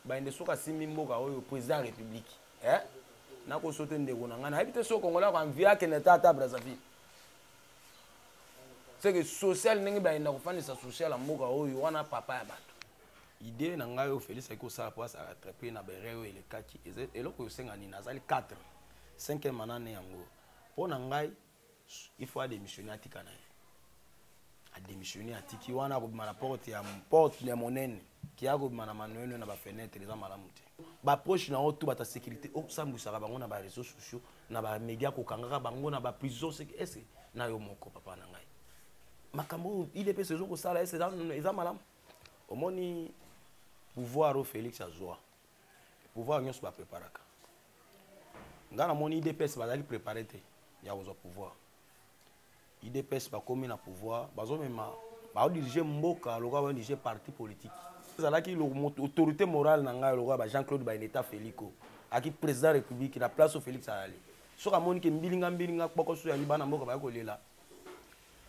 bayende soki asimbi mboka oyo président ya république eh? nakosote ndeko na ngai nayebi te soki kongola ko anvie akende ata ata brazzaville seke social ndenge bayenda kofandisa social ya mboka oyo wana papa ya bato idee na ngai oyo félix ayaki kosala mpo asala atrape na berere oyo elekaki eloko oyo osenga nini azali 4 5 manane yango mpo na ngai il faut adémissionner atika na ye adémissionner atiki wana akobima na porte ya porte ya monene ki akobima na manoeno na bafenetre eza malamu te baproche na yo to bata sécurité osambwisaka bango na bareseau sociaux na bamédia kokangaka bango na baprison ese na yo moko papa na ngai makambo oyo idps ezokosala ese eza malamu omoni pouvoir oyo félix azwa pouvoir nyonso bapreparaka ngai namoni idps bazalaki prépare te ya kozwa pouvoir idps bakomi na pouvoir bazomema baodirige mboka lokola baodirige parti politique ezalaki autorité morale na ngai lokola ba jean claude baineta felico aki président république na place oyo félix ayali soki amoni ke mbilinga mbilinga kpokoso yali bana mboka baya kolela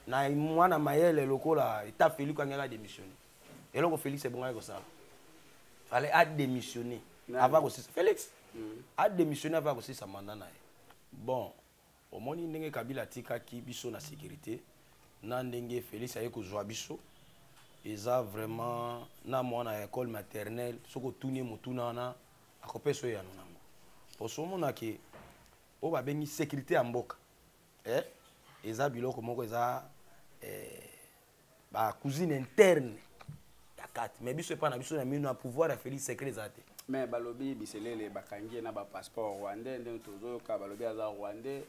na mwana mayele lokola eta felico angela démissionne eloko felix ebongaki kosala fale adémissionne ava kosisa felix mm. adémissionne ava kosisa manda na ye bon omoni ndenge kabila atikaki biso na sécurité na ndenge felix aye kozwa biso eza vraiment na mwana ya école maternelle soki otuni ye motuna wana akopesa oyo yano nango poso omona ke oyo babengi sécurité ya mboka eh? eza biloko moko eza eh, ba cousine interne ya kati mais biso epa na biso na mino na pouvoir ya félix secret eza te mais balobi biselele bakangi ye na bapasseport rwandais ndenge tozoyoka balobi aza rwandais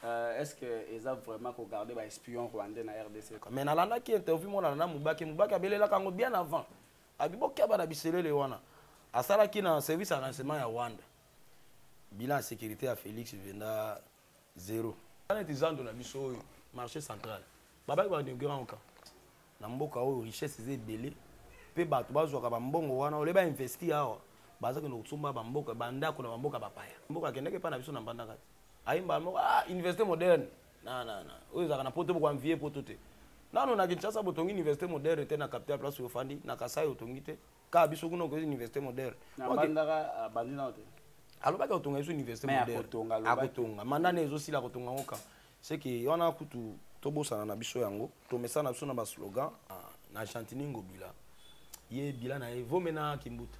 Euh, est-ce que eza vraiment ko garder ba espion rwandais na RDC mais nalandaki interview mona na mubake mubake abelelaka yango bien avant abi bokeba na biselele wana asalaki na service ya renseignement ya rwanda bilan ya sécurité ya félix venda zero wana ete zando na biso oyo marché central babaki bainaugurant oka na mboka oyo richesse eza ebele mpe bato bazwaka bambongo wana ole bainvesti awa baza kende kosomba bamboka bandako na bamboka bapaya mboka akendaki epai na biso na mbandaka te ayembaa moko ah, université moderne nanana oyo ezalaka na poto bokoanvie poto te nano na kinshasa botongi université moderne te na capital place ofandi na kasai otongi te kaka biso kuna okoki université moderne alobaki akotonga biso université moderne akotonga manda ne ezosila akotonga yango kaka seke wana kutu tobosana na biso yango tomesana na biso na baslogan ah, na gentini ngobila ye bila na ye vome na kimbuta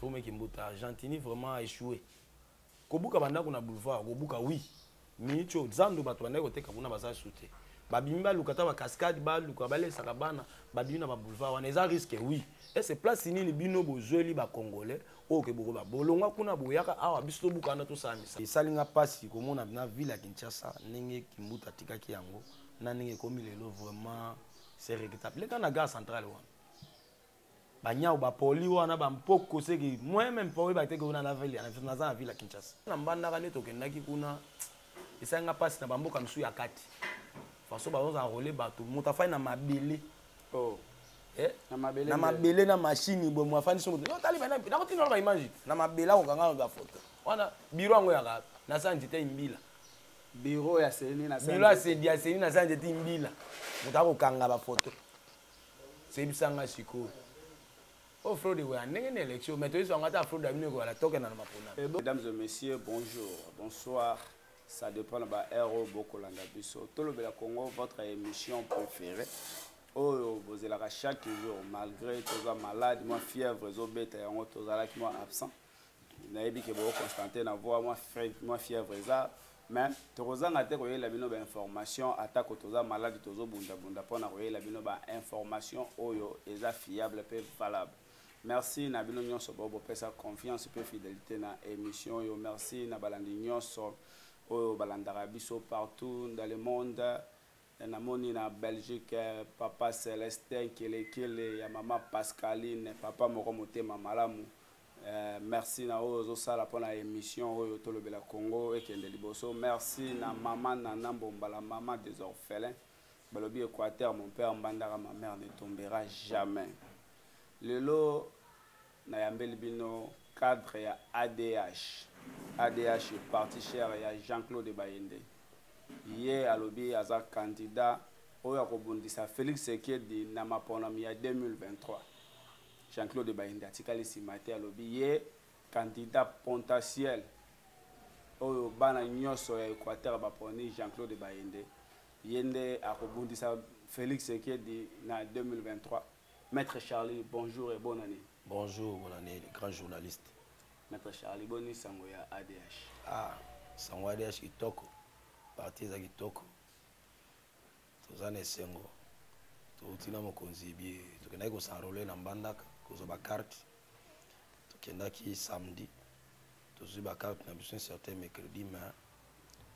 vome kimbuta gentini vraiment aéchoué kobuka bandako na boulevard kobuka oui miniti oyo zando bato bandaki koteka kuna baza lisusu te babimi baluka ata bacascade baluka balesaka bana babimi na baboulevard wana eza risque oui ese place nini bino bozweli bacongolais oyo ke bokoba bolongwa kuna boyaka awa biso tobuka wana tosala misa esali nga mpasi komona na ville ya kinshasa ndenge kimbuta atikaki yango na ndenge ekomi lelo vraiment c'est regrettable leka na gare centrale wana banyau bapoli wana bampoko seke moyen meme mpo oyeba te ke wana naza na ville ya kinshasa na mbandaka nde tokendaki kuna esali nga mpasi na bamboka mosusu ya kati faso bazozala role bato moto afai na mabele oh. eh? na mabele na mashini boye mo afandisi moto otali nakotinda wana baimage na mabele akokanga bafoto wana biro yango yaka nasala nzete imbila biro ya seni nasala nzete imbila moto akokanga bafoto Sebisa nga sikoyo. Oh fraude ekoya ndenge na election mais toyebisa yango ata fraude abino ekoyala tokenda na maponami. Eh, mesdames et messieurs, bonjour, bonsoir. Ça dépend de ba heure oyo bokolanda biso. Tolobela Congo, votre émission préférée. oyo bozelaka chaque jour malgré toza malade mwa fièvre ezobeta yango tozalaki mwa absent nayebi ke boko constante na voi mwa mwa fièvre eza mais tokozanga te koyelela bino bainformation atako toza maladi tozobundabunda mpo na koyelela bino bainformation oyo eza fiable mpe valable merci na bino nyonso bo bopesa confiance mpe fidélité na émission oyo merci na balandi nyonso oyo balandaka biso partout dans le monde Namoni na Belgique papa Celestin kelekele ya mama Pascaline papa moko motema malamu eh, merci na oyo ozosala mpo na émission oyo tolobela Congo ekende liboso merci na mama Nana Mbombala mama des orphelins balobi Équateur mon père Mbandaka ma mère ne tombera jamais lelo Nayambeli bino cadre ya ADH. ADH parti cher ya Jean-Claude Bayende. Ye alobi aza candidat oyo akobundisa Felix Sekedi na maponami ya 2023. Jean-Claude Bayende atikali nsima te alobi ye candidat potentiel oyo bana nyonso ya Equateur baponi Jean-Claude Bayende ye nde akobundisa Felix Sekedi na 2023. Maître Charlie, bonjour et bonne année. Bonjour, bonne année, le grand journaliste. Maître Charlie, boni sango ya ADH. Ah, sango ADH kitoko. Parti eza kitoko. Toza na esengo. Touti na mokonzi bi tokendaki kosenrole na Mbandaka kozwa ba carte. Tokendaki samedi. Tozwi ba carte na biso certain mercredi mais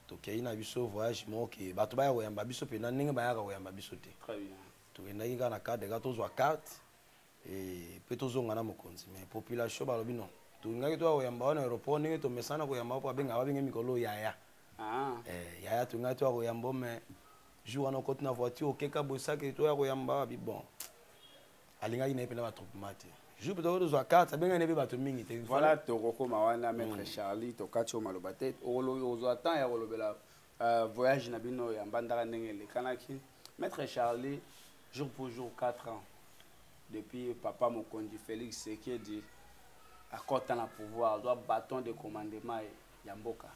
tokei na biso voyage moko ke bato baya koyamba biso mpenza ndenge bayaka koyamba biso te. Très bien. tokendaki kaka na cadre kaka tozwa carte mpe tozonga na mokonzi mais population balobi non tolingaki toya koyamba wana aéroport ndenge tomesana koyamba mpo abenga babenge mikolo yaya ah. eh, yaya tolingaki toya koyamba mais jour wana okoti na voiture okeka bosaki toya koyamba wabi bon alingaki na ye mpe na batroupement te jour tokoki tozwa carte abengani ebe bato mingi te voilà tokokoma wana maître mm. charlie tokati yo maloba te ozwa temps ya kolobela Euh, voyage na bino ya mbandaka ndenge elekanaki maître charlie jour pour jour 4 ans depuis papa mokonzi félix sekedi akɔta na pouvoir azwa bâton de commandement ya mboka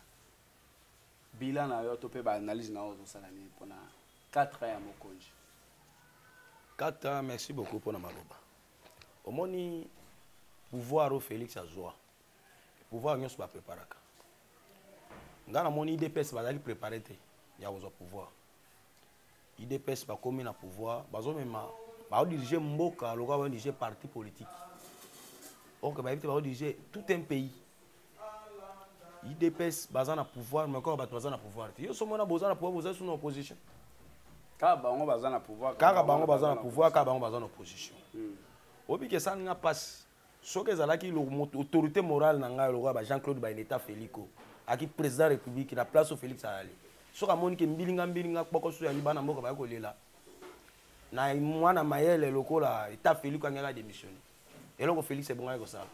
bilan na yo to mpe baanalyse na yo ozosala nini mpona 4 ans ya mokonzi 4 ans merci beaucoup mpona maloba omoni pouvoir oyo félix azwa pouvoir nyonso bapreparaka ngai namoni idps bazalaki prépare te ya kozwa pouvoir idps bakomi na pouvoir bazomema baodirige mboka lokola baodirige parti politique orke bayebi te baodirige tout un pays idps baza na pouvoir mais kaka bato baza na pouvoir te yo somona boza na pouvoir boza sous na opposition kaka bango baza na pouvoir kaka bango baza na pouvoir kaka bango baza na opposition hmm. obikesani nga mpasi soki ezalaki autorité morale na ngai lokola ba jean claude baineta felico aki président république na place oyo félix ayali soki amoni ke mbilinga mbilinga kpokoso yali bana mboka baya kolela na mwana mayele lokola eta felico angaki adémissionne eloko félix ebongaki kosala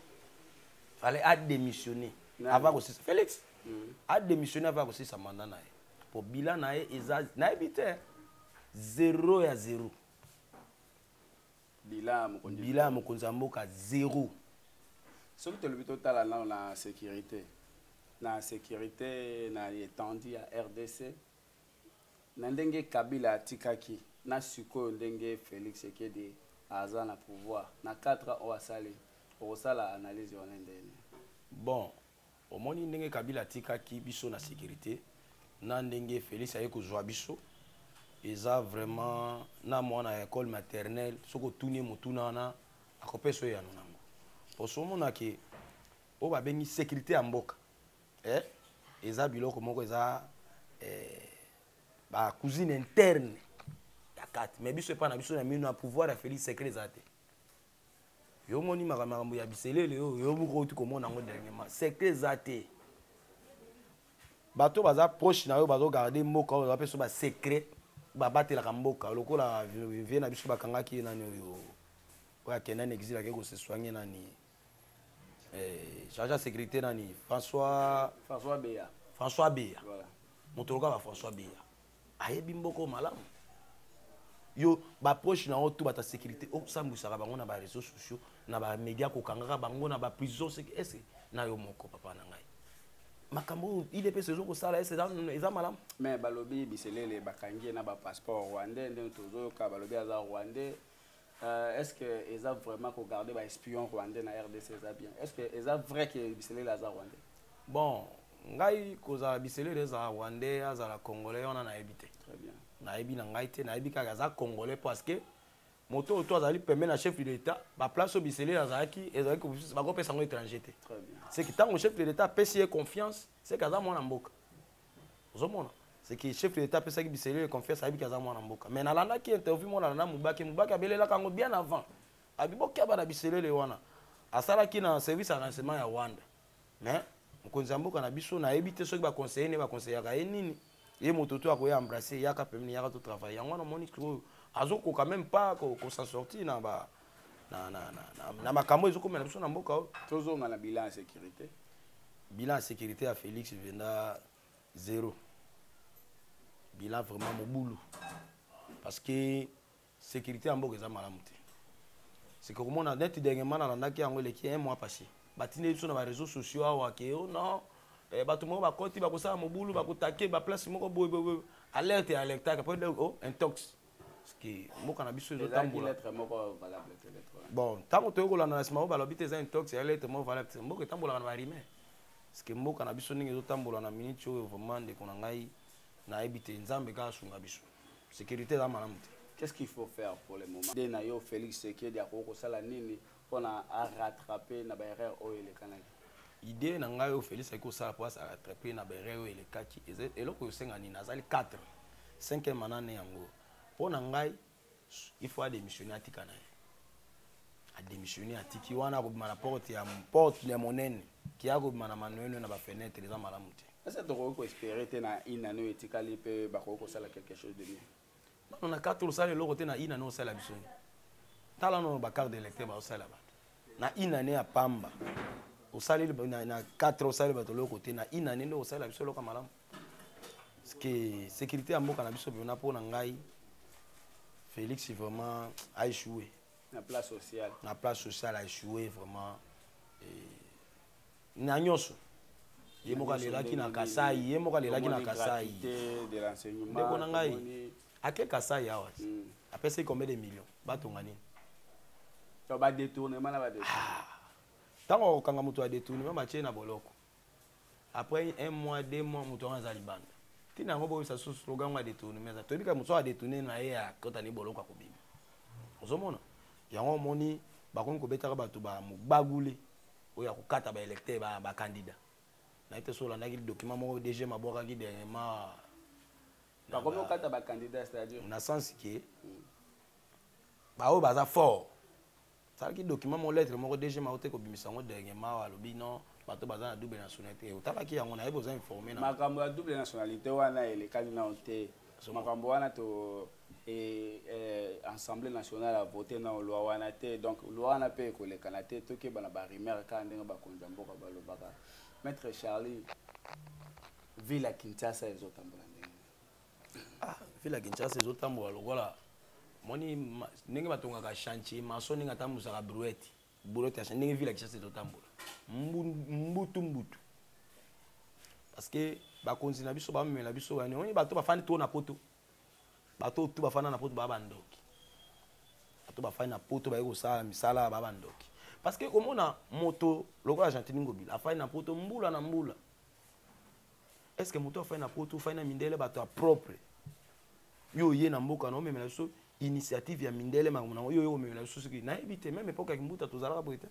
fale adémissionne avant kosisa félix mm. adémissionne avant kosisa manda na ye po bila na ye eza nayebi te zero ya zero bila ya mokonzi ya mboka zero soki tolobi totala nano na sécurité na sécurité na étendue ya rdc na ndenge kabila atikaki na sikoyo ndenge félix ekedi aza na pouvoir na 4 ans oyo asali okosala analyse wana ndene bon Omoni ndenge Kabila atikaki biso na securite na ndenge Felix aye kozwa biso eza vraiment na mwana ya école maternelle soki otuni ye motuna wana akopesa oyo yano nango poso omona ke oyo babengi sécurité ya mboka eh? eza biloko moko eza eh, ba cousine interne ya kati mais biso epai na biso na mino na pouvoir ya Felix secret eza te yo omoni makambo ya biselele oyo yo moko outi komona yango dernièrement secret eza te bato baza proche na yo bazogarde mboka oyo baza mpe basecret babatelaka mboka lokola vie na biso bakangaki ye nani oyo oyo akenda na exil ake koseswange nani eh, charge ya sécurité nani françois françois beya françois beya moto lokola ba françois beya ayebi mboka oyo malamu yo baproche na yo to bata sécurité osambwisaka bango na baréseau sociaux na bamédia kokangaka bango na baprison ese na yo moko papa na ngai makambo oyo idps ezo kosala ese eza malamu mais balobi biselele bakangi ye na bapasseport rwandais ndenge tozoyoka balobi aza rwandais Euh, est-ce que eza vraiment ko garder ba espion rwandais na RDC eza bien est-ce que eza vrai que biselele aza rwandais bon ngai kozala biselele ezala rwandais azala congolais wana nayebi te nayebi na ngai te nayebi kaka aza congolais parce que moto oyo to azali pembe na chef de l'état baplace oyo biselele azalaki ezalaki bakopesa yango étranger te seki ntango chef de l'état apesi ye confiance seki aza mwana mboka ozomona seke chef de l'état apesaki biselio ye confiance ayebiki aza mwana mboka mais nalandaki interview monana na mubake mubake abelelaka yango bien avant abi bokeba na biselele wana asalaki na service ya renseignement ya rwanda mais mokonzi ya mboka na biso nayebi te soki baconseille ne baconseillaka ye nini ye moto to akoya embrasse yaka pemini yaka to travaille yango wana omoni sikoyo azokoka meme pas kosa sorti na ba ko na, na, na, na, na makambo ezokomela biso na mboka oyo tozonga na bilan ya sécurité bilan ya sécurité ya félix venda zéro bilan vraiment mobulu parce que sécurité ya mboka eza malamu te seke komona neti dernièrement nalandaki yango eleki un mois passé batindeli biso na bareseau sociaux awa ke o oh non eh, bato moko bakoti bakosala mobulu bakotake baplace moko boye boye alerte ya alertaka po o oh, intox que mboka na biso ezotambola bon ntango toyei kolanda na nsima oyo balobi te eza intox ya lettre moko valable te mboka etambolaka na barime parceke mboka na biso ndenge ezotambola na miniti oyo vraiment ndeko na ngai nayebi te nzambe kaka asunga biso sécurité eza malamu te qu'est-ce qu'il faut faire pour le moment nde na yo félix sekedi akoki kosala nini pona a rattraper na ba erreur oyo elekanaki idée na ngai oyo félix ayaki kosala mpo asala trape na bere oyo elekaki eloko osenga nini azali 4 5 manane yango mpo na ngai il faut adémissionne atika na ye adémissionne atiki wana akobima na porte ya porte ya monene kiya kobima na manoeno na bafenetre eza malamu te esa tokoki koespere te na inane oyo etikali mpe bakoki kosala quelque chose de bien nano na katolo osala eloko te na ina no osala biso nini tala nono bacarte d'électeur baosala bato na ina ne ya pamba osaleli na 4 osaleli bato eloko te na ina ne nde osalela biso eloko ya malamu parceke sécurité ya mboka na biso mpena mpo na ngai félix vraiment a échoué na place sociale na place sociale a échoué vraiment et... na nyonso ye moko alelaki na kasai ye moko alelaki na kasai ndeko na ngai ake kasai awa hmm. apesaki combien de million batonga nini ah. ntango akokanga moto ya detournement batie na boloko après un mois deux mois moto yango aza libanda ntina yango boyebisa susu slogan yango ya detournement eza toyebi kaka moto oyo adetourne na ye akotani boloko akobima ozomona yango omoni bakomi kobetaka bato ba mogbagule oyo akokata ba électeur ba, ba candidat na ete so olandaki document moko DG mabwakaki dernièrement bakomi okata ba candidat c'est-à-dire na sens que hmm. baoyo baza fort salaki document moko lettre moko DG maote kobimisa yango dernièrement alobi non bato baza na double nationalité otalaki yango nayebi oza informe na makambo ya double nationalité wana elekani nao te makambo wana to et euh, assemblée nationale a voté na loi wana te donc loi wana mpe ekolekana te tokeba na barumeur kaka ndenge bakonzi ya mboka balobaka maître charlie ville ya kinshasa ezotambola ndenge ah, ville ya kinshasa ezotambola lokola moni ndenge batongaka chantier maso ndenge atambusaka brouette brouette ya ndenge ville ya kinshasa ezotambola mbutu mbutu parce que bakonzi na biso bamemela biso bani oni bato bafandi to na poto bato tu bafanda na poto baa bandoki bato bafandi na poto baye kosala misala baa bandoki parce que komona moto lokola gentini ngobila afandi na poto mbula na mbula est ce que moto afandi na poto ofandi na mindele bato ya propre yo oye na mboka na omemela biso initiative ya mindele makambo nango yo oye komemela biso soki nayebi te meme epoke ya kimbuta tozalaka boye te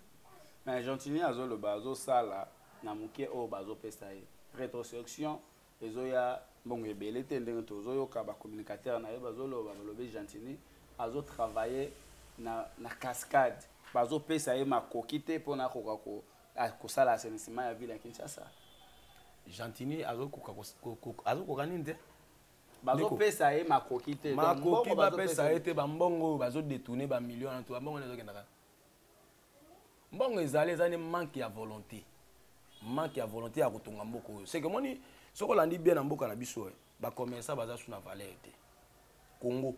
mais gentini azoloba azosala na moke oyo bazopesa ye retrosection ezoya mbongo ebele te ndenge tozoyoka ba communicateur na ye bazoloba balobi gentini azo travailler na, na cascade bazopesa ye makoki te mpo na akoka ko, kosala assainissement ya ville ya kinshasa gentini azokoka azokoka nini te bazopesa ye makoki te makoki bapesa ye te bambongo oyo bazodetourne bamillion na to bambongo wana ezokendaka mbongo ezali eza nde manque ya volonté manque ya volonté ya kotonga mboka oyo seke omoni soki olandi bien na mboka na biso eh, bacommerçant baza su na valeur te congo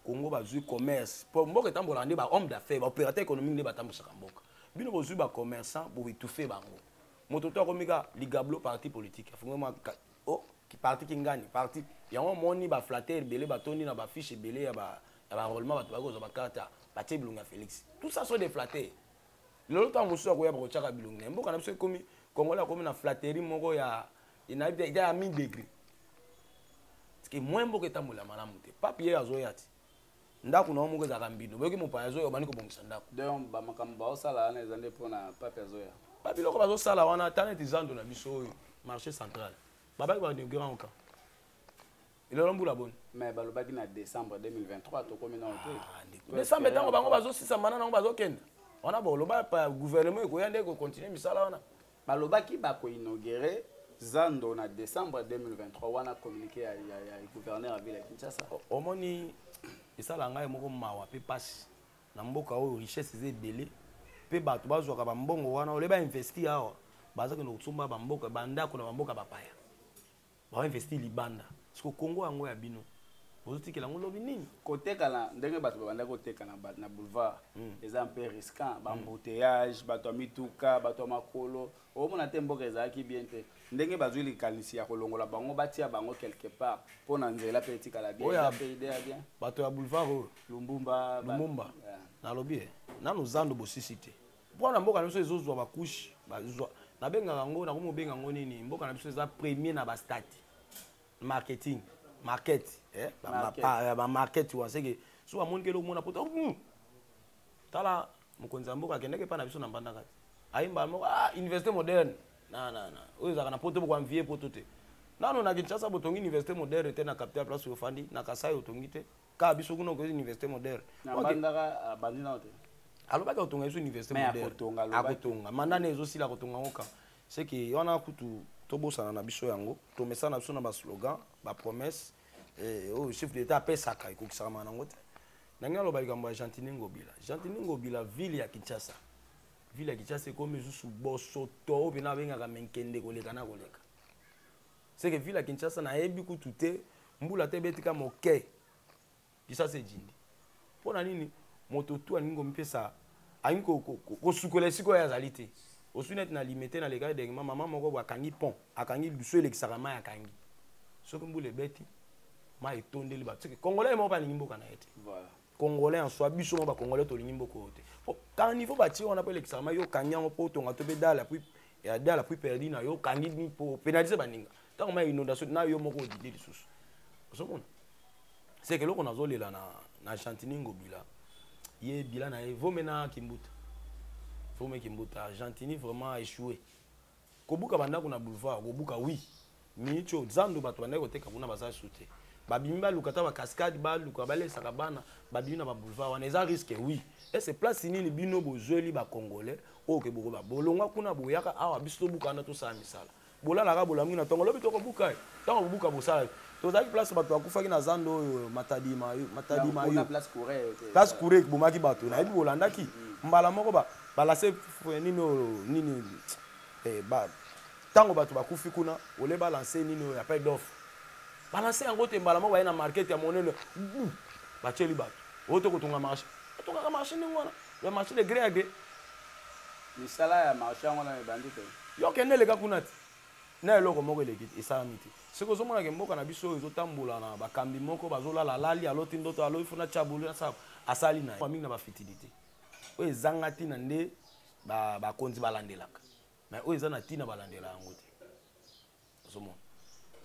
congo bazwi commerce mpo mboka etambolaka nde bahomme d'affaires baopérateur économique nde batambwisaka mboka bino bozwi bacommerçant boetouffe bango moto to akomi ka ligablo parti politique afungi mwa oh, parti kingani parti yango omoni baflateur ebele batondi na bafiche ebele ya ba, ba ya ba enrôlement bato bakozwa ba carte ya batie bilongi ya félix tout ça sont des flatteurs lelo ntango mosusu akoya bakotyaka bilongi na ye mboka na biso ekomi congolais akomi na flatterie moko ya nayebi te eza ya mi degré parceke moyen mboka etambolela malamu te pape ye azoya ti ndako na yo moko ezalaka mbindo boyoki mopaya azoya obandi kobongisa ndako donc bamakambo baosala wana eza nde mpona pape azoya babiloko bazosala wana ata neti zando na biso oyo marché central babaki bainaugurant oka elelo mbula boni mais balobaki na décembre 2023 tokomi nao te ah, décembre ntango bango bazosisama na nango bazokenda wana boloba gouvernement ekoya nde ekocontinue misala wana balobaki bakoinaugure zando na décembre 2023 wana communiqué ya, ya, ya gouverneur ya ville ya kinshasa omoni esala ngai moko mawa mpe mpasi na mboka oyo richesse eza ebele mpe bato bazwaka bambongo wana ole bainvesti awa baza kende kosomba bamboka bandako na bamboka bapaya ba investi libanda siko congo yango ya bino bozotikela yango lobi nini kotekana ndenge bato babandaki kotekana na boulevard hmm. eza mpe risquant hmm. bambouteyage bato ya mituka bato ya makolo omona te mboka ezalaki bien te ndenge bazwi likanisi ya kolongola bango batia bango quelque part mpo na nzela mpe etikala bien bato ya boulevard oyo lumbumba lumbumba nalobi ye nanu zando bosisi te mpo na mboka na biso ezozwa bakushe bazwa nabengaka yango nakomi obenga yango nini mboka na biso eza premier na bastati marketing market eh? bamarket ah, wana seke so bamoni kele omona poto hmm. tala mokonzi ya mboka akendaki epai na biso na mbandaka te ayembaa moko ah, université moderne nanana oyo ezalaka na poto bokoanvie poto te nano na kinshasa botongi université moderne te na capital place ofandi na kasai otongi te kaka biso kuna okoki université moderne alobaki akotonga biso université moderne akotonga manda ne ezosila akotonga yango kaka seke wana kutu tobosana na biso yango tomesana na biso na baslogan bapromesse eh, oyo chef d'état apesaka ekokisakama nango te ndenge naloba likambo ya gentini ngobila gentini ngobila ville ya kinshasa ville ya kinshasa ekomi lisusu bosoto oyo mpena abengaka menkende koleka na koleka seke ville ya kinshasa nayebi kutu te mbula te ebeti ka moke kinshasa ejindi mpo na nini moto tu alingi komipesa alingi kosukola esika oyo azali te osui neti na limete na lekaki degema mama moko bo akangi pont akangi lusu elekisaka mai akangi soki mbula ebeti mai etondeli bato soki congolais moko alingi mboka na ye te congolais en soi biso mo ba congolais tolingi mboko oyo te po kala niveau batie wana mpo elekisaka mai okangi yango mpo otonga to mpe dala puis ya dala puis perdi na yo okangi ni mpo opénalise baninga ntango mai inondation na yo moko odide lisusu ozomona seke eloko nazolela na, na gentini ngobila ye bila na ye vome na kimbuta vome kimbuta gentini vraiment échoué kobuka bandako na boulevard kobuka oui minute oyo zando bato bandaki koteka kuna baza lisusu te babimi baluka ata bacascade baluka balesaka bana babimi na baboulevard wana eza risque oui ese place nini bino bozweli bacongolais oyo ke bokoba bolongwa kuna boyaka awa biso tobuka wana tosala misala bolalaka bolamuki na ntongo lobi tokobuka ye ntango bobuka bosala tozalaki place bato bakufaki na zando oyo matadi mayo matadi mayo place kure ekibomaki bato nayebi bolandaki mm. mbala moko balase nini oyo nini eh, ntango bato bakufi kuna ole balanse nini oyo appel d'offre balanse yango te mbala moko baye na market ya monene batyeli bato oyo te kotonga marché atongaka marché ndenge wana ya marché de gré ya gré misala ya marché yango wana ebandi te yo kende eleka kuna te na eloko moko eleki esalami te soki ozomona ke mboka na biso oyo ezotambola na bakambi moko bazolala alali aloti ndoto alobi funa chabulu asala asali na ye mingi na bafitilité oyo ezanga ntina nde bakonzi ba balandelaka mais oyo eza na ntina balandela yango te ozomona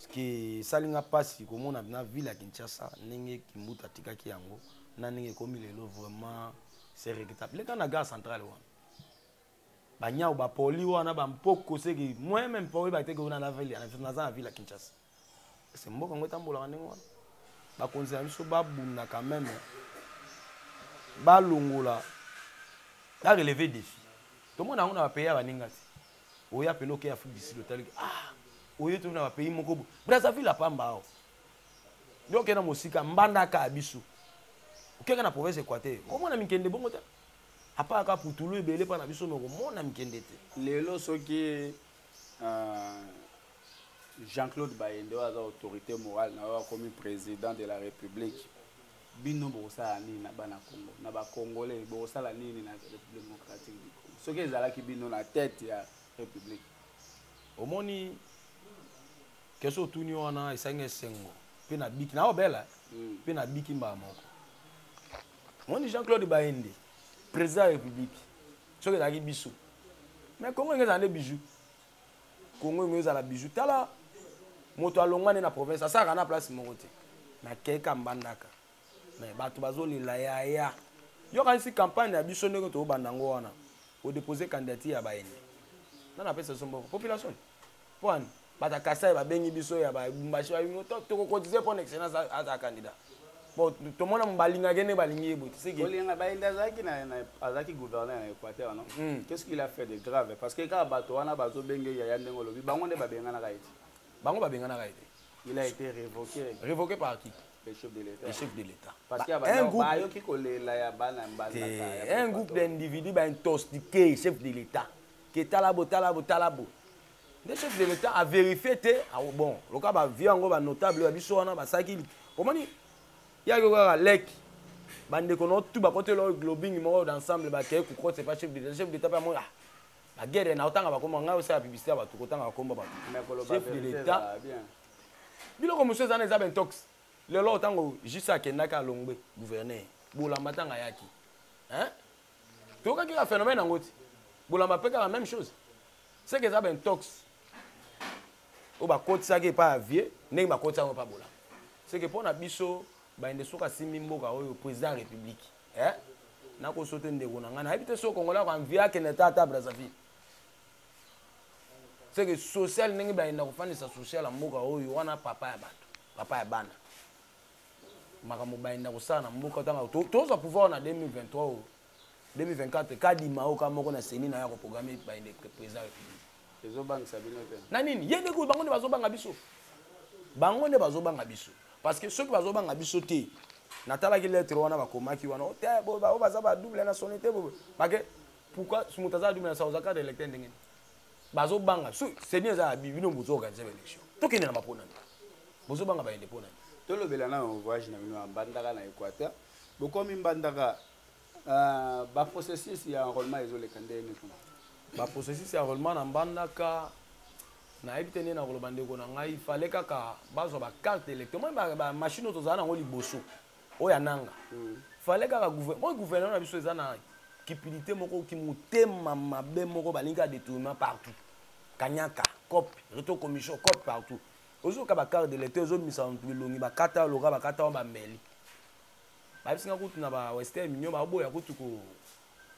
parceke esali nga mpasi komona na ville ya kinshasa ndenge kimbuta atikaki yango na ndenge ekomi lelo vraiment c'est regrettable leka na gare centrale wana banyau bapoli wana bampoko seke moyen meme mpo oyeba teke ona naza na ville ya kinshasa se mboka yango etambolaka ndenge wana bakonzi na biso babundaka meme balongola bareleve defi tomona yango na bapays ya baninga te oya mpena oke afrique du sud otaliki ah oye toki na bapays moko bo brazzaville apamba awa yo okenda mosika mbandaka ya biso okeka na province equateur omona mikende bongo te apaka kaka putulu ebele mpa na biso me okomona mikende te lelo soki euh, jean-claude bayende oyo aza autorité morale na oyo akomi président de la république bino bokosala nini na bana congo na bacongolais bokosala nini na république démocratique du congo soki ezalaki bino na tete ya république omoni keso otuni wana esangi esengo mpe nabiki naobela mpe hmm. nabiki mbala moko omoni jean claude bayende président ya république soki ezalaki biso mais congo enge ezala nde bijou congo enge ezala bijou tala moto alongwa nde na province asalaka na place moko te nakeka mbandaka mais bato bazolela yaya yokanisi campagne ya biso ndenge tobanda yango wana odepose candidature ya bayende nana apesa biso mboko population Pwan, bata Kasai babengi biso ya ba Lumbashi toko cotiser pon excellence aza candidat. Bon, tomona balinga gene balingi ye bote. Siki. Olinga ba enda zaki na azaki gouverneur na Equateur non? Mm. Qu'est-ce qu'il a fait de grave? Parce que kaka bato wana bazo benge ya ya ndengo lobi bango nde babengana ka ete. Bango babengana ka ete. Il a été révoqué. Révoqué par qui? Le chef de l'État. Le chef de l'État. Parce qu'il y a bah, un groupe. Bah, un groupe d'individus, bah, intoxiqués, chef de l'État. ke talabo talabo talabo nde chef de l'état averifie te ah, bon loka bavie yango banotable ya biso wana basalaki omoni yaki kaka leki bandeko na otu bakotela oyo globing moko d'ensemble bakei kokota epa chef d'état chef d'état mpe amoi ah bagere na otanga bakomba ngai osala publicité ya bato kotanga bakomba bato chef de l'état biloko mosusu ezana eza bentox lelo ntango jus akendaki alongwe gouverneur bolamba ntango ayaki toyokaki kaka phénomène yango ti bolamba mpe kaka même chose seke eza baintox oyo bakotisaki epai ya vie ndenge bakotisaki yango epai bolamba seke mpo na biso bayende soki asimbi mboka oyo président ya république eh? nakoso te ndeko na ngai nayebi te soki kongola ko anvie akende ta ata brazzaville seke social ndenge bayenda kofandisa social ya mboka oyo wana papa ya bato papa ya bana makambo bayenda kosala na mboka ntanga tozwa pouvoir na 2023 oyo 2024 kadima oyo ka moko na seni na ye akoprograme bayende président république ezobangisa bino te na nini ye nde kuyi bango nde bazobanga biso bango nde bazobanga biso parce que soki bazobanga biso te natalaki lettre wana bakomaki wana ote oh, oyo oh, baza ba double nationalité bake pourquoi moto aza double nationalité oza cadre électeur ndenge nini bazobanga so seni eza ya bino bozo organise baélection tokende na bapona nini bozobanga bayende mpo nani tolobela na voyage na bino ya mbandaka na équateur bokomi mbandaka euh, baprocessus ya enrôlement ezoleka ndenge nini kuna baprocessus ya enrôlement na mbandaka nayebi te nde nakoloba ndeko na ngai fale kaka bazwa bacarte électeur moi bamashine oyo tozala nango liboso oyo ananga mm. fale kaka gouvernement gouvernement na biso eza na kipilite moko kimotema mabe moko balingi ka détournement partout kanyaka cop reto commission cop partout ozoka bacarte de lecteur ezobimisa bantu bilongi bakata loka bakata wana bameli babisinga kutu na bawestern mignon baboya kutu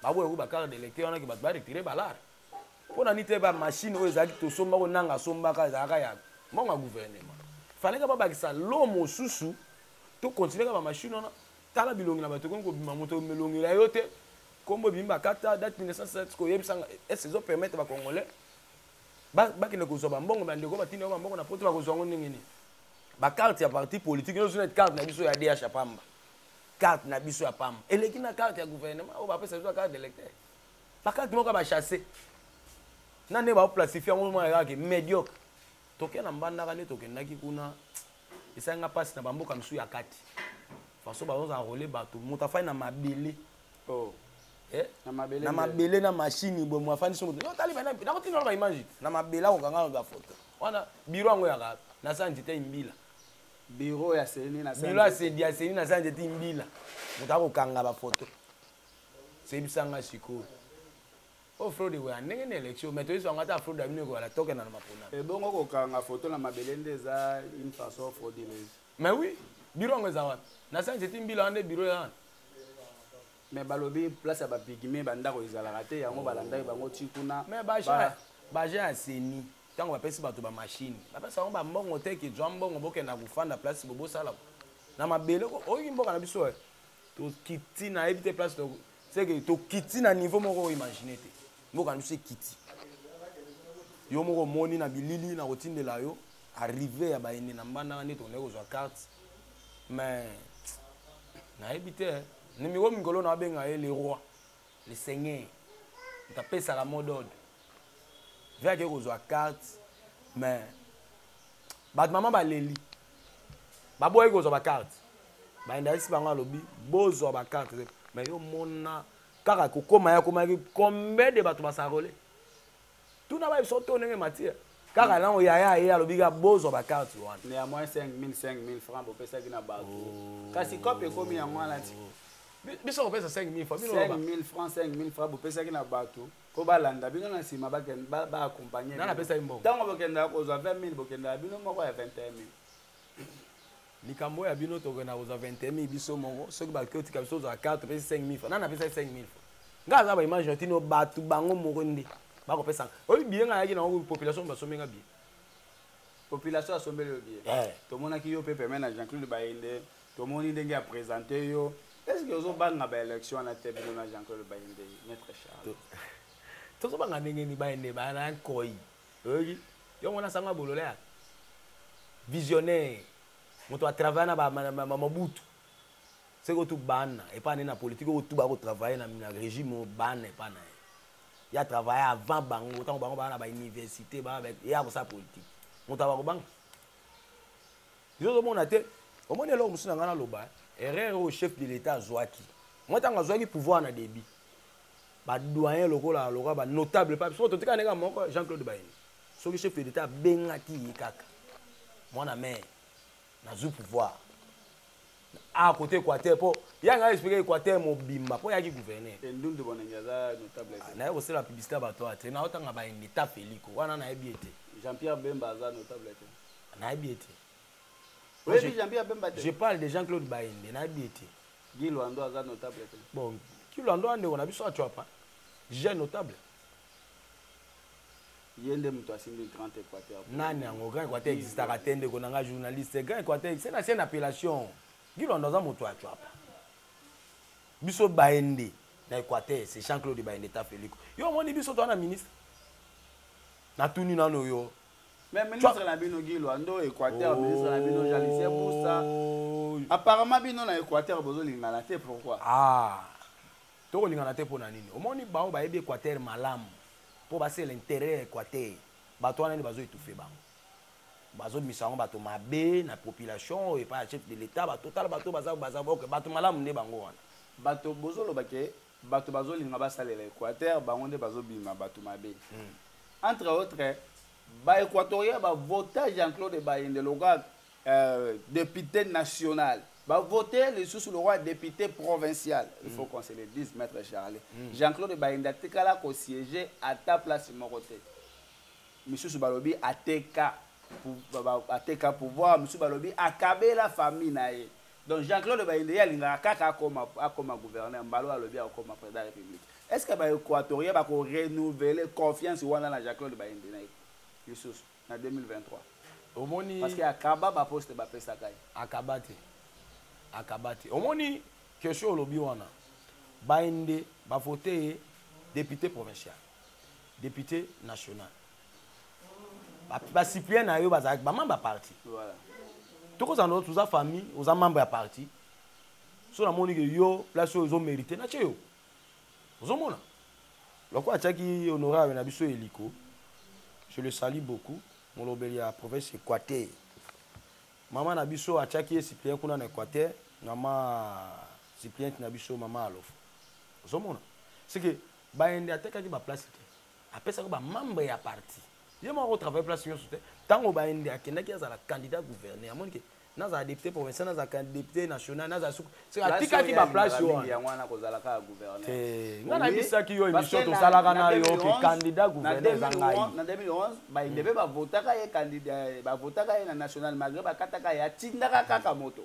baboya kutu bacarte de lecteur wana ke bato baretire balare mpo na nini te bamashine oyo ezalaki tosomba oyo nanga asombaka ezalaka ya mbongo ya gouvernement faleka babakisa lo mosusu to continuer kaka ba machine wana tala bilongi na bato ekomi kobima moto melongela yo te nkombo ebimi bakata date 1907 koyebisanga ese ezo permettre bacongolais bakende kozwa bambongo bandeko batindi yango bambongo na poto bakozwa yango ndenge nini bacarte ya parti politique nyonso neti carte na biso ya dh ya pamba carte na biso ya pamba eleki na carte ya gouvernement oyo bapesa biso ya carte d'électeur bacarte moko ya bachasse na nde baoplasifie yango mwana kaka mediocre tokenda mbandaka nde tokendaki kuna esali nga mpasi na bamboka mosusu ya kati façon bazozala role bato moto afai na mabele oh. eh? na mabele na mashini boye mo afandisi moto otali nakotinda na baimage na mabele akokanga na foto wana biro yango yaka na sa nzete imbila biro ya seni na biro ya seni na sa nzete imbila moto akokanga bafoto sebisanga sikoyo Oh fraude ekoya ndenge na élection mais toyei zanga ata fraude abino ekoya la toke na mapona. Ebongo eh, kokanga photo na mabele nde eza une façon frauduleuse. Mais oui, bureau yango eza wapi? Na science eti mbila ande bureau ya wana. Mais balobi place ya ba pygmée ba ndako ezalaka te yango balandaki bango ti kuna. Mais ba gens ba gens ya seni ntango bapesi bato ba machine bapesi bango ba mbongo te ke zwa mbongo bokenda kofanda place bobosala na mabele oyoki mboka na biso eh. tokiti nayebi te place c'est que tokiti na niveau moko oimagine te mboka na biso ekiti yo moko omoni na bilili na kotindela yo arrive ya baende na mbandaka nde tokendaki kozwa carte mais nayebi te eh. nimiko mikolo na abenga ye le roi le seigneur moto apesaka mot d'ordre ve akei kozwa carte mais bato mama baleli baboyaki kozwa bacarte baindakisi bango alobi bozwa bacarte te mais yo mona kaka kokoma ya komaki combien de bato basarole tuna bayebi so to ndenge matière kaka nango yaya ye alobi kaka bozwa bacarte wana neamoi 5000 5000 franc bopesaki na bato oh. kasi cope ekomi yango wana ti biso kopesa 5000 francs 5000 francs 5000 francs bopesaki na bato po balanda bino na nsima baakompagne nana apesaki mbongo ntango bokendaka kozwa 20 000 bokendaka bino moko ya 21 000 likambo oyo ya bino tokenda kozwa 21 000 biso moko soki bakoki otika biso ozwa 4 topesi 5 000 franc nana apesaki 5 000 franc ngai aza baimage na tino bato bango moko nde bakopesaka oyebi biye ngai ayaki nango population basombi ngai biye population asombeli yo biye eh. tomonaki yo mpe peme na jean claude bayende Tomoni ndenge a presenter yo. Est-ce que ozo banga ba election na te bino na Jean-Claude Bayende, Maître Charles? Tozo banga ndenge ni Bayende ba na koi. Oyebi? Yongo na sanga bolole ya visionnaire. Moto a travailler na ba Mobutu. Seko tu bana epa ne na politique oyo tu ba ko travailler na, na regime bana epa na. Ya travailler avant bango, tango bango ba na ba université, ba ya ko sa politique. Moto ba ko banga. yo ozomona te omoni eloko mosusu na ngai naloba eh? erreur oyo chef de l'état azwaki mwa ntango azwaki pouvoir na débit badoyen lokola lokola banotable pa biso totika ndenge moko jean claude bayini soki chef de l'état abengaki ye kaka mwana mare nazwi pouvoir a côté équateur mpo ye anga explike équateur mobimba mpo yaki gouverneur ah, naye kosala publicité ya bato ate naotanga baini ta feliko wana nayebi ete jean pierre bemba aza notable te nayebi ye te oyebi jambi ya bemba te je parle de jean claude bayende nayebi ye te gi lwando aza notable te bon ki lwando ya ndeko na biso acuapa jeune notable ye nde moto asimbi grand équateur nani yango grand équateur existaka te ndeko na ngai journaliste grand équateur se na se na appellation gi lwando aza moto ya cuapa biso bayende na équateur c'est jean claude bayende tafeliko yo omoni biso toa na ministre natuni nano yo Mais ministre na bino Guy Luando, Équateur, ministre na bino Jalisier Moussa. Oh. Apparemment bino na Équateur bozo lingana te pourquoi? Ah. Toko lingana te pona nini? Omoni bao ba yebi Équateur malamu. Po ba se l'intérêt ya Équateur. Bato wana nde bazo étouffer bango. Bazo misa bango bato mabe na population et pas chef de l'État. Bato tala bato baza baza ok bato malamu nde bango wana. Bato bozo loba ke bato bazolinga basalela équateur bango nde bazobima bato mabe hmm. entre autres baéquatorien bavota jean claude bayende lokola euh, député national bavote lisusu lokola député provincial il faut hmm. qu'on se le dise maître charle hmm. jean claude bayende atikala kosiége ata place moko te misusu balobi ateka ateka pouvoir misusu balobi akabela famille na ye Donc Jean-Claude Bayende ye alingaka kaka akoma akoma gouverneur Mbalo alobi akoma président de la République. Est-ce que ba Équatoriens ba ko renouveler confiance wana na Jean-Claude Bayende na ye lisusu na 2023? Omoni Parce que akaba ba poste ba pesaka ye. Akaba te. Akaba te. Omoni question olobi wana. Bayende ba voter député provincial, député national. basiplien na yo bazalaki bamembre ya parti tokozala na toza famille oza membre ya parti so namoni ke yo place oyo ozomérite natye yo ozomona lokola atyaki honorable na biso eliko je le sali beaucoup molobeli ya province equateur mama na biso atyaki ye suppliente kuna na équateur mama suppliente na biso mama alofo ozomona seke bayende atekaki baplace te apesaki ba membre ya parti ye moko travaille place nyonso te ntango baende akendaki azala candidat gouverneur amoni ke nazala député provincial nazala député national nazala suku atikaki baplace wana nga nayebisaki yo émission tosalaka na yo ke candidat gouverneur eza ngai na 2011 baende mpe bavotaka ye bavotaka ye na national malgré bakataka ye atindaka kaka moto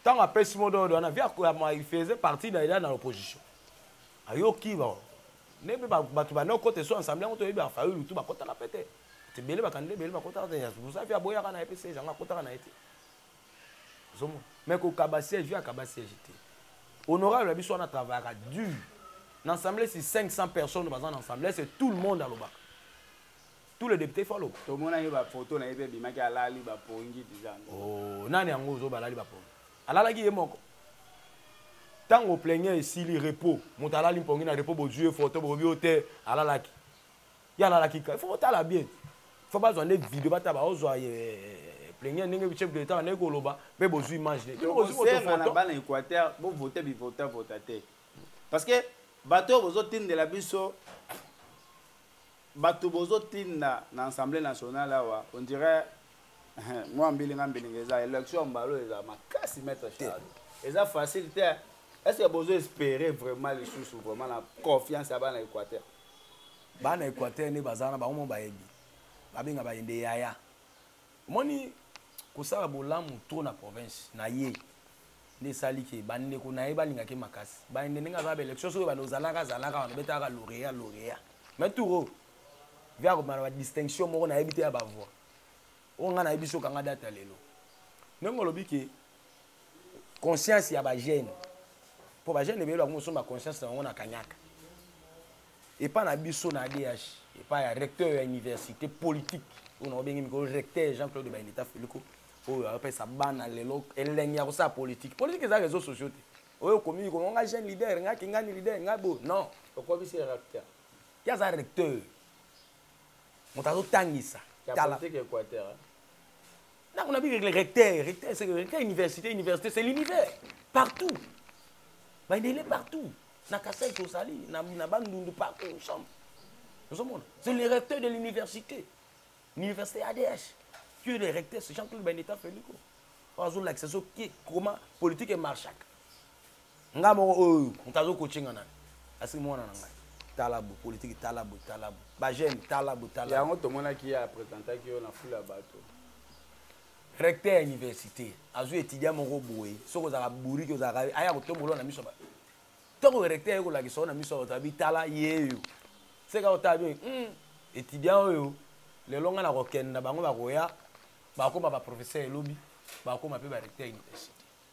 ntango apesi mododo wana via koyama il faisait partie na eda na l'opposition ayoki ba nde mpe bato banda okota esu ensemble yango toyebi bafayi lutu bakotaka mpe te ebele bakandida ebele bakotaka te yazuza mpe aboyaka na ye mpe siège yango akotaka na ye te ozomona mai kokaba siège vi akaba siège te honorable na biso wana travaillaka dur na ensemble si 500 personnes baza na ensemble ese tout le monde alobaka tous les députés faut aloba tomona ye ba photo na ye pe bimaki alali ba pongi deja oh nani yango ozo balali ba pongi alalaki ye moko tango plaignant esili repos moto alali mpongi na repos bozwi ye photo bobi yo te alalaki ye alalaki ka faut botala bien faut bazwa nde video bataba ozwa eh, eh, plaignant ndenge chef de l'état ndenge koloba mpe bozwi image te bozwi moto photo bana équateur bovote bivota vota te parce que bato oyo bozotindela biso Batu bozo tinda na Assemblée nationale awa on dirait mwa mbilinga mbilinga eza election mbalo eza makasi maître Charles eza facile te est ce que bozo espérer vraiment lisusu vraiment na confiance ya bana Équateur bana Équateur nde baza na bango mo bayebi babenga bayende yaya omoni kosala bolamu trop na province na ye nde esali ke bandeko na ye balinga ke makasi bande ndenge aza baélection soki bande ozalaka azalaka wana obetaka lauréat lauréat mais touro vi akobima na badistinction moko nayebi te ya bavoix oyo ngai nayebi soki anga data lelo ndenge olobi ke conscience ya bagene mpo bagene ebele bakomi kosomba conscience na bango na kanyaka epai na biso na adh epai ya recteur ya université politique oyo na obengi mikolo recteur jean claude baineta feliko oyo apesa bana lelo elengi ya kosala politique politique eza réseau sociaux te oyo okomi koma nga jeune leader nga kingani leader nga bo non okomisi recteur ye aza recteur moto azotangisa tala ndako na bikekele recteur recteur c'est recteur université université c'est l'univers partout bandele partout na kasai tozali na bandundu partout ensemble ozomona c'est le recteur de l'université l'université adh tu es le recteur c'est jean claude bandeta feliko oyo azolakisa soki koma politique emarchaka nga moko oyo oh, oh, moto azokoce nga nani asiki mwana na ngai talabu politiki talabu talabu bajeune talabu talabu yango tomonaki ye apresentaki yo na fula ya bato recteur ya université azwi étudiant moko boye soki ozalaka buriki ozalaka aya kotombola na miso bato ntango recteur aye kolakisa yo na miso ya bato abi tala yeyo seka otala bi hmm, étudiant oyo lelo ngai nakokenda bango bakoya bakoma baprofesseur elobi bakoma mpe barecteur ya université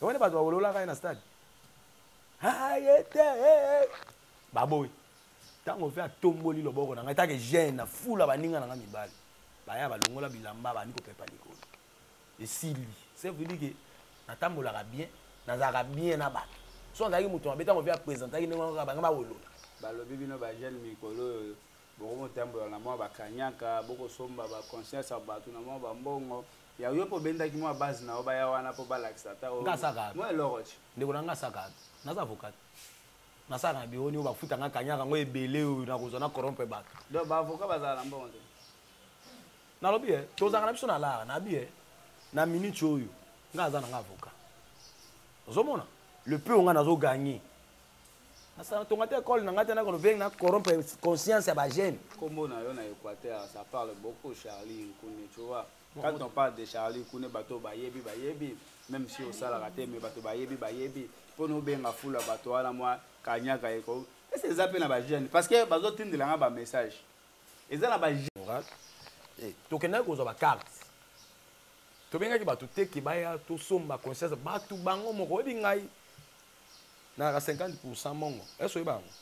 omoni bato bawololaka ye na stade aye te eh, eh. baboyi ntango mpe atomboli loboko na ngai take gene na fula baninga na ngai mibali baya balongola bilamba bandi kopepa likolo esili sevedike natambolaka bien nazalaka bien na bato so azalaki moto mabe ntango mpe apresentaki ndenge wana bangai bawolola balobi bino bajeune mikolo oyo bokomotambola na mwa bakanyaka bokosomba baconscience ya bato na mwa bambongo Ya yo pe obendaki mua base na yo baya wana po balakisa ata oyo. Nga asaka. Mua eloko ti. Ndeko na nga asaka. Naza avocat. Nasaka na bureau ni oyo bafuta nga kanyaka ngo ebele oyo nakozwa na corrompre bato. Donc ba avocat bazala na mbongo te. Nalobi eh tozaka na biso na lara na bi eh na minute oyo nga aza na nga avocat. Ozomona? Le peu nga nazo gagner natonga te ekole na ngai te nakolo beng na corrompre conscience ya bajeune nkombo na yo na équateur ça parle beaucoup charlie nkune tu vois quand on parle de charlie nkune bato bayebi bayebi même si osalaka te mais bato bayebi bayebi mpo na obenga fula bato wana mwa kanyaka eko ese eza mpe na bajeune parce que bazotindela ngai bamessage eza na bajeune eh, tokendaki kozwa bacarte tobengaki bato teke baya tosomba conscience bato bango moko oyebi ngai nayaka 50 pourcent mongo ese oyeba yango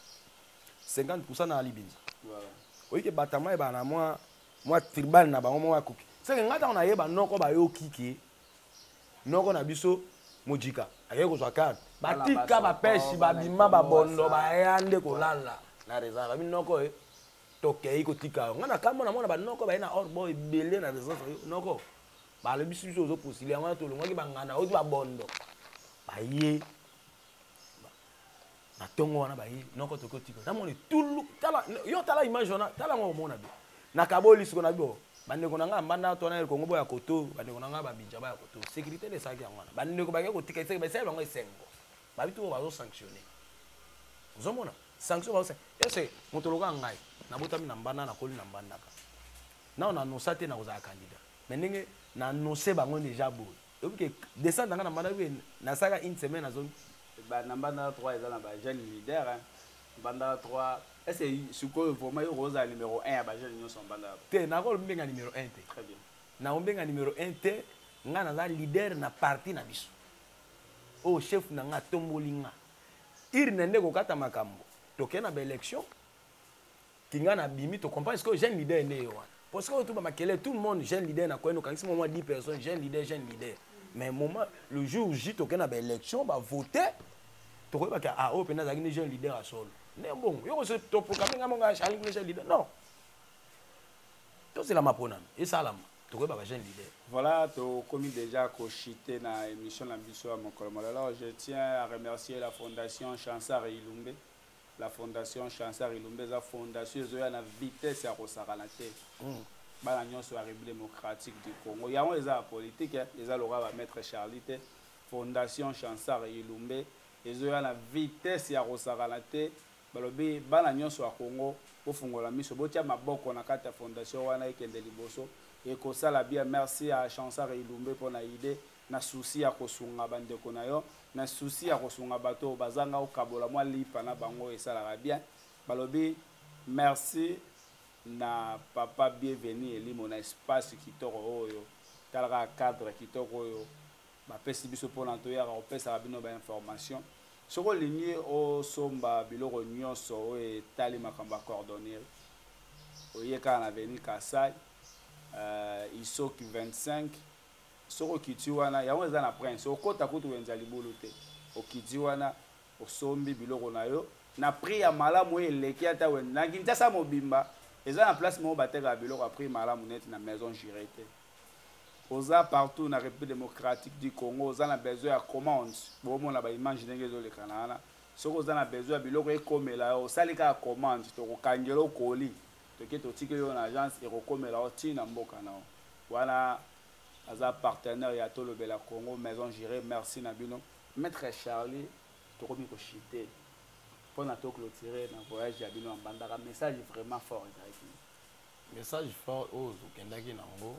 50 pourcent na alibinza oyike batama ebaa na mwa mwa tribal na bango moko akoki seke ngai ntango nayeba noko bayoki ke noko na biso mojika akei kozwa karte batika bapesi babima babondo baya nde kolala na reza babi noko e tokei kotika yo ngai nakambo na mwana banoko baye na orbo ebele na reza noko balobisi biso ozo postile yango wana tolongwaki banganda oti babondo baye na ntongo wana baye noko toki otika namona etulu tala yo tala image wana tala yango omona be nakaboli siko na bio bandeko na ngai ya mbanda to wana ya kongo boya koto bandeko na ngai babinja baya koto sécurité nde esalaki yango wana bandeko bake kotika eseki basali bango esengo babi tuko bazosanctionne ozomona sanction bazo ese moto lokola ngai nabotami na mbanda nakoli na mbandaka nao nanosa te nakozala candidat mais ndenge na annonce bango deja boye oyebi ke descente nanga na mbanda oyebi ke nasalaka une semaine azongi na mbanda 3 eza na ba jeune leader hein. mbanda 3 ese sikoyo vraimen yo kozala numero 1 ya bajeune nyonso mbanda te nakolobi mbenga numero 1 te très bien naombenga numero 1 te ngai naza leader na parti na biso oyo oh, chef na ngai atomboli ngai irne nde kokata makambo tokei na baélection kinga na bimi to comprendre ce que jeune leader ne yo wana parce que tout ba makele tout le monde jeune leader na quoi no kangisi moi 10 personnes jeune leader jeune leader mais moment le jour J to kena ba élection ba voter to ko ba ka ah oh pena zaki ni jeune leader à solo ne bon yo ko se to programme nga monga charlie ni jeune leader non to c'est la mapona et ça la to ko ba jeune leader Voilà, tu as commis déjà cochité dans l'émission L'Ambition à mon colonel. Alors, je tiens à remercier la Fondation Chansar et Ilumbe. la fondation chansar ilumba eza fondation ezoya na vitesse ya kosakana te mm. bana nyonso ya république démocratique du congo yango eza ya politike eh. eza lokola bamaître charlie te fondation chansar ilumbe ezoya na vitesse ya kosakana te balobi bana nyonso ya congo bofungola miso botya maboko na kati ya fondation wana ekende liboso ekosala bien merci ya chansar ilumbe mpo na idée na souci ya kosunga bandeko na yo na souci ya kosunga bato oyo bazanga okabola mwa lipa na bango esalaka bien balobi merci na papa bienvenu elimo na espace kitoko oyo tala kaka cadre kitoko oyo bapesi biso mpona toyaka kopesaka bino bainformation soki olingi osomba biloko nyonso oyo etali makambo ya cordonnerie oye kaka na veni kasai uh, isoki 25 soki okiti wana yango eza na prince okota kutu wenza libulu te okiti wana osombi biloko na yo na prix ya malamu oyo eleki ata wenza na kinshasa mobimba eza na place moko batekaka biloko ya prix malamu neti na maison jure te oza partout na république démocratique du congo oza na besoin ya commande bomona baimage ndenge ezolekana wana soki oza na besoin ya biloko ekomela yo osali kaka commande tokokangela okoli toke totikeli yo na agence ekokomela yo ti na mboka na yo wana aza partenaire ya tolobela congo maison gérée merci na bino maître charlie tokomi koshite mpo na toclotire na voyage ya bino ya mbandaka message vraiment fort ezalaki message fort oyo tokendaki na yango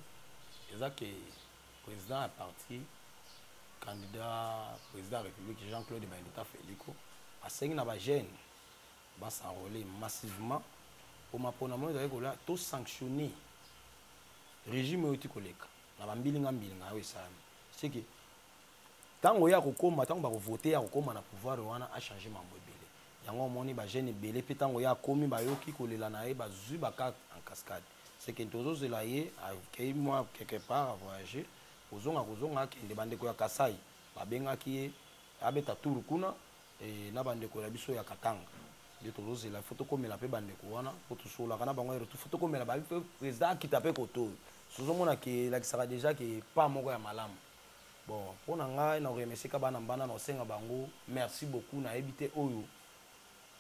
eza ke président ya parti candidat président ya république jean claude baindita felico asengi na bajeune Ba s'enrole massivement. Mpo mapona moye ezali kola to sanctionne regime oyo ti koleka na ba mbilinga mbilinga oyo esalami. C'est que tango ya kokoma tango bako voter ya kokoma na pouvoir wana a changer mambo ebele. Yango omoni ba jeunes ebele mpe tango ya komi bayoki kolela na ye bazui ba cas en cascade. C'est que tozo zela ye akeyi mua quelque part a voyager kozonga kozonga akende ba ndeko ya Kasaï babengaki ye abeta tour kuna eh, na bandeko na biso ya katanga nde tozozela fo tokomela mpe bandeko wana mpo tosololaka na bango erotu fo tokomela babi mpe président akita mpe koto oyo tozomona ke elakisaka déjà ke pa moko ya malamu bon mpo na ngai na koremeseka bana mbana na kosenga bango merci beaucoup nayebi te oyo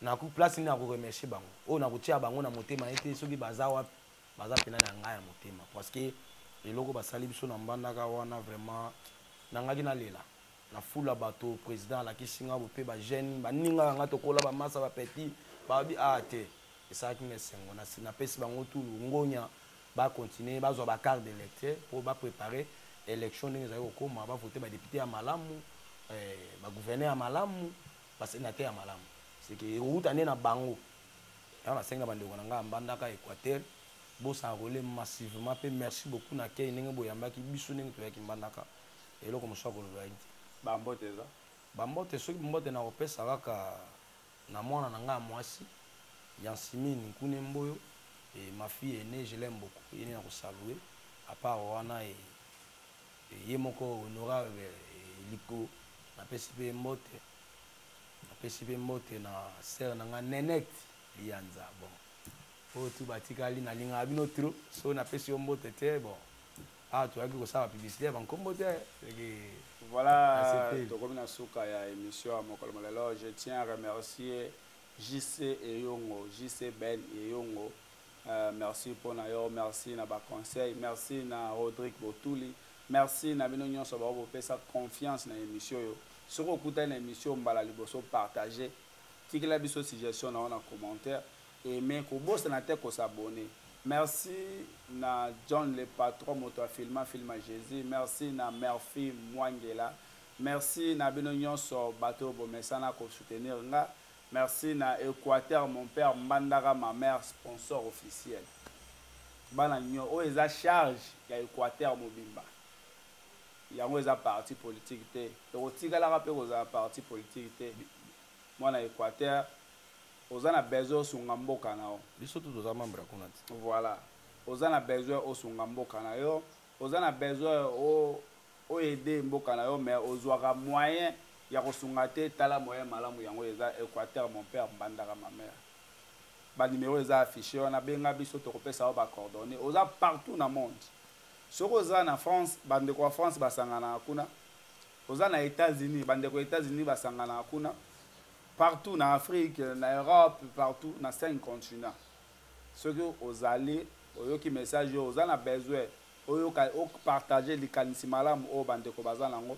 naku place nini nakoremercie bango oyo nakotia bango na motema ye te soki baza wapi baza mpena na ngai ya motema parce que eloko basali biso na mbandaka wana vraiment nangaki nalela na foule ya bato président alakisi nga bope ba jeune baninga na nga tokola bamasa bapetit babi a ah, te esalaki nga esengo napesi bango tu longonya bacontinue bazwa bacarte de lecteur mpo baprépare élection ndenge ezali kokoma bavote badepute ya malamu eh, bagouverneur ya malamu basénateur ya malamu seke ekouta nde na bango yango nasengi na bandeko na ngai ya mbandaka équateur bosana kolie massivement mpe merci beaucoup na kei ndenge boyambaki biso ndenge toyaki mbandaka eloko mosusu akoloba ye te bambote eza bambote soki mbote nakopesa kaka na mwana na ngai ya mwasi ya nsimini nkune mboyo e, ma fille aine je l'aime beaucoup ye nde nakosalue apart wana e, e, ye moko honorable e, liko napesi mpe mbote napesi mpe mbote na sere na ngai nenete liyanza bon oyo tu batikali nalingaka bino trop so napesi yo mbote te bon awa toyaki kosala bapiblisite ya bankombo te leki voilà tokomi na suka ya émission ya mokolo molelo je tiens à remercier jc eyongo jc ben eyongo euh, merci mpo na yo merci na baconseil merci na rodrigue botuli merci na bino nyonso bao bopesa confiance na émission oyo soki okutani na émission mbala liboso partage tikela biso suggestion na yo na commentaire Aime kobosana te ko s'abonner. Merci na John le patron moto a filma film ya Jesus. Merci na Murphy Mwangela. Merci na bino nyonso bato oyo bomesana ko soutenir nga. Merci na Equateur mon père Mbandaka ma mère sponsor officiel. Bana nyo oyo eza charge ya Equateur mobimba. Yango eza parti politique te. Ekotikalaka pe kozala parti politique te. Mwana Equateur Oza na besoin osunga mboka na yo. Biso tout oza membre kuna ti. Voilà. Oza na besoin osunga mboka na yo. Oza na besoin o o aider mboka na yo mais ozwaka moyen ya kosunga te tala moyen malamu yango eza Equateur mon père Mbandaka ma mère ba numéro eza affiché wana benga biso tokopesa yo ba coordonnées oza partout na monde soki oza na France bandeko ya France basanganaka kuna oza na États-Unis bandeko ya États-Unis basanganaka kuna partout na afrique na europe partout na cinq continent soki ozali oyoki message oyo oza na besoin oyoka opartage likanisi malamu oyo bandeko baza nango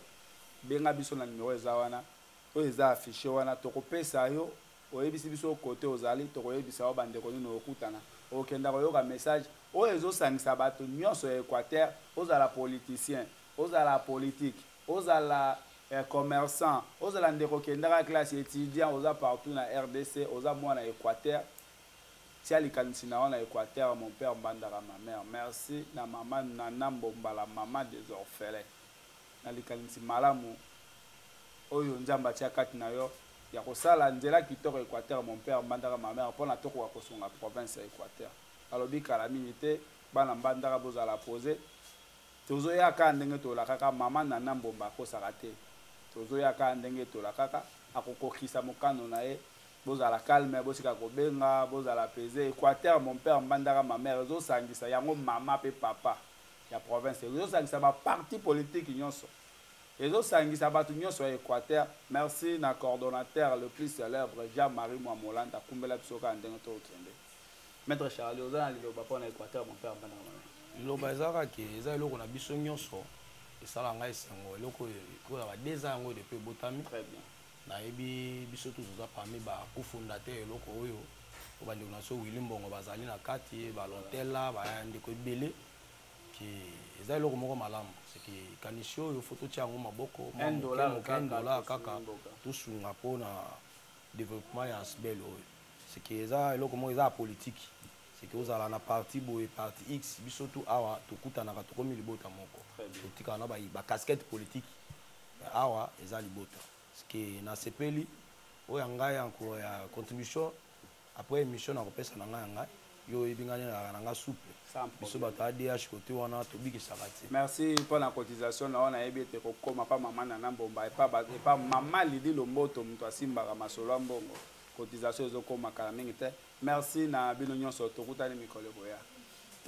benga biso na numero eza wana oyo eza affiche wana tokopesa yo oyebisi biso kote ozali tokoyebisa yo bandeko nini okutana okenda koyoka message oyo ezosangisa bato nyonso ya équateur ozala politicien ozala politike Ozala commerçant, ozala ndeko kendaka classe, etudiant, oza partout na rdc, oza mwana ya Equateur, tia likanisi na yo na Equateur, mon père Mbandaka ma mère. Merci na mama Nana Mbomba la maman des orphelins na likanisi malamu oyo Nzambe atia kati na yo ya kosala nzela kitoko Equateur, mon père Mbandaka ma mère, pona tokoka kosunga province ya Equateur. Nalobi kala mingi te, bana Mbandaka bozala poser. Tozo ya kaka ndenge tolakaka maman Nana Mbomba akosaka te tozo ya kaka ndenge tolakaka akokokisa mokano na ye bozala calme botika kobenga bozala peze Equateur mon père Mbandaka ma mère ezo sangisa yango maman pe papa ya province ezo sangisa ba parti politique nionso ezo sangisa batu nionso ya Equateur merci na coordonnateur le plus celèbre Jean Marie Mwamolanda kumbela biso kaka ndenge tokokende Maître Charlie, oza na liloba mpo na Equateur, mon père Mbanda Mwana. Liloba ezalaka ke eza eloko na biso nyonso esala ngai esengo eloko oyo ba deux ans yango depuis ebotami. Très bien. Nayebi biso tous oza parmi ba cofondateur eloko oyo po bandeko na biso Willy Mbongo bazali na kati balontela bandeko ebele ke eza eloko moko malamu seke kanisi oyo fo totia yango maboko moke moke dollar kaka tosunga mpo na developpement ya asbel oyo seke eza eloko moko eza ya politiki seke ozala na parti boye parti x biso tu awa tokutanaka tokomi libota moko totikala na bacasquette politiki awa eza libota seke nasepeli oyo ya ngai ya contribution après émission nakopesa na ngai ya ngai yo oyebi ngai nalaka na nga souple biso bato adh kote wana tobikisaka te merci mpo na cotisation na oyo nayebi ete kokoma mpa mama nana mbomba epa mama lidi lomboto moto asimbaka masolo ya mbongo cotisation ezokoma kala mingi te merci na bino nyonso tokutani mikolo ekoya